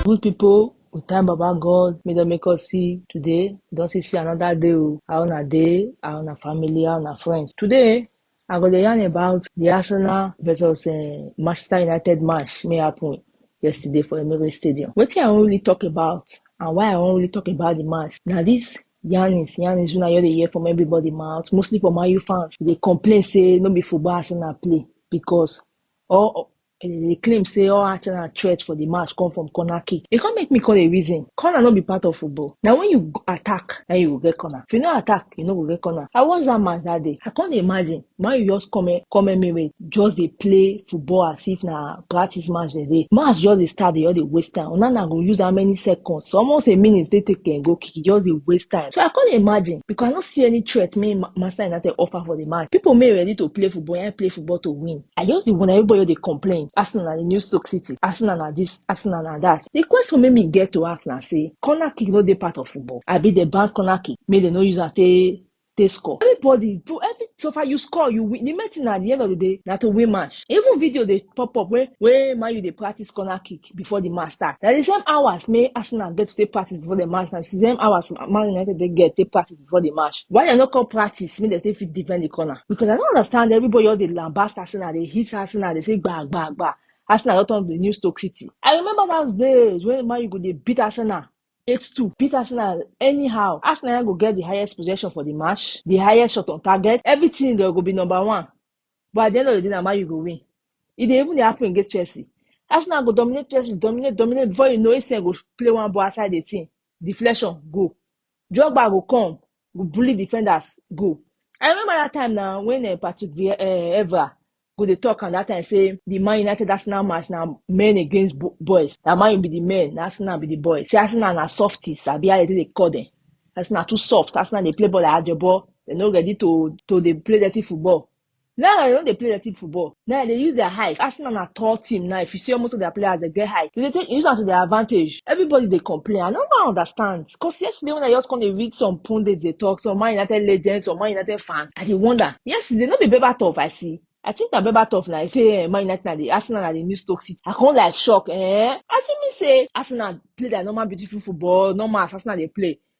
Good people, we thank Baba God, may don make us see today. We don see see another day o. How una dey, how una family, how una friends. Today, I go dey yarn about di Arsenal versus um Manchester United match wey happen yesterday for Emirates Stadium. Wetin I wan really talk about and why I wan really talk about di match na dis yarnings yarnings wey una just dey hear from everybody mouth mostly from Man U fans dey complain say no be football Arsenal play because all And dem dey claim say all Arsenal threat for the match come from corner kick. E come make me call a reason. Corner no be part of football. Now when you attack, now you go get corner. If you no attack, you no go get corner. I watch that match that day. I can't imagine. Man, you just come here, come here, me just they play football as if na practice match they dey. Match just they start, they all they waste time. Onana go use how many seconds? So almost a minute they take and go kick. It just they waste time. So I can't imagine because I don't see any threat. Me, Master United offer for the match. People may ready to play football and play football to win. I just the one everybody they complain. Arsenal the new Stoke City. Arsenal na this, Arsenal na that. The question made me get to ask now say corner kick no dey part of football. I be the bank corner kick. May they no use am take take score. Everybody, bro, every so far you score, you win. The main thing at the end of the day, now to win match. Even video they pop up where where man you they practice corner kick before the match start. Now the same hours may Arsenal get to take practice before the match. Now the same hours Man United they get take practice. before the match. Why they no come practice make they take fit defend the corner? Because I don't understand everybody all the lambast Arsenal, they hit Arsenal, they say gba gba gba. Arsenal don't turn to the new Stoke City. I remember those days when Man U go dey beat Arsenal. 8-2 beat Arsenal anyhow. Arsenal go get the highest possession for the match, the highest shot on target, everything they go be number one. But at the end of the day, na Man U go win. It dey even dey happen against Chelsea. Arsenal go dominate Chelsea, dominate, dominate. Before you know, ACN go play one ball outside the team. Deflection, go. Drogba go come, go bully defenders, go. I remember that time now when uh, Patrick Vieira, uh, Evra go dey talk and that time say the Man United Arsenal match now men against bo- boys. That man you be the men, na Arsenal be the boys. Say Arsenal na softies, I be how they take dey call them. Arsenal too soft. Arsenal they play ball like Ajabo. They no ready to to they play dirty football. Now I don't dey play dirty football. Now they use their height. Arsenal na tall team now. If you see almost of their players, they get height. They dey take use am to their advantage. Everybody dey complain. I no wan understand. Because yesterday when I just come dey read some pundits dey talk, some Man United legends, some Man United fans, I dey wonder. Yesterday no be Berbatov I see. I think na Berbatov na he say eh, Man United na the Arsenal na the new Stoke City. I come like shock eh. As you mean say Arsenal play their normal beautiful football, normal as Arsenal dey play.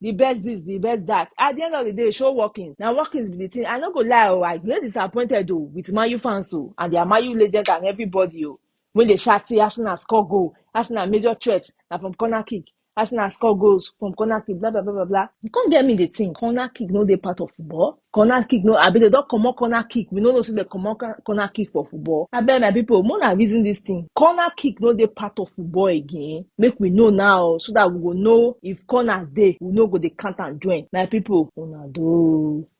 the best this, the best that. At the end of the day, show workings. Now workings be the thing. I no go lie, oh, I get disappointed though with Mayu fans oh, and their Mayu legend and everybody oh. When they shout say Arsenal score goal, Arsenal major threat, now from corner kick, Arsenal score goals from corner kick, blah blah blah blah blah. You can't get me the thing. Corner kick no dey part of football. corner kick no abi dem don comot corner kick we no know say dem comot corner kick for football abeg my people make una reason this thing corner kick no dey part of football again make we know now so that we go know if corner dey we no go dey count am join my people una do.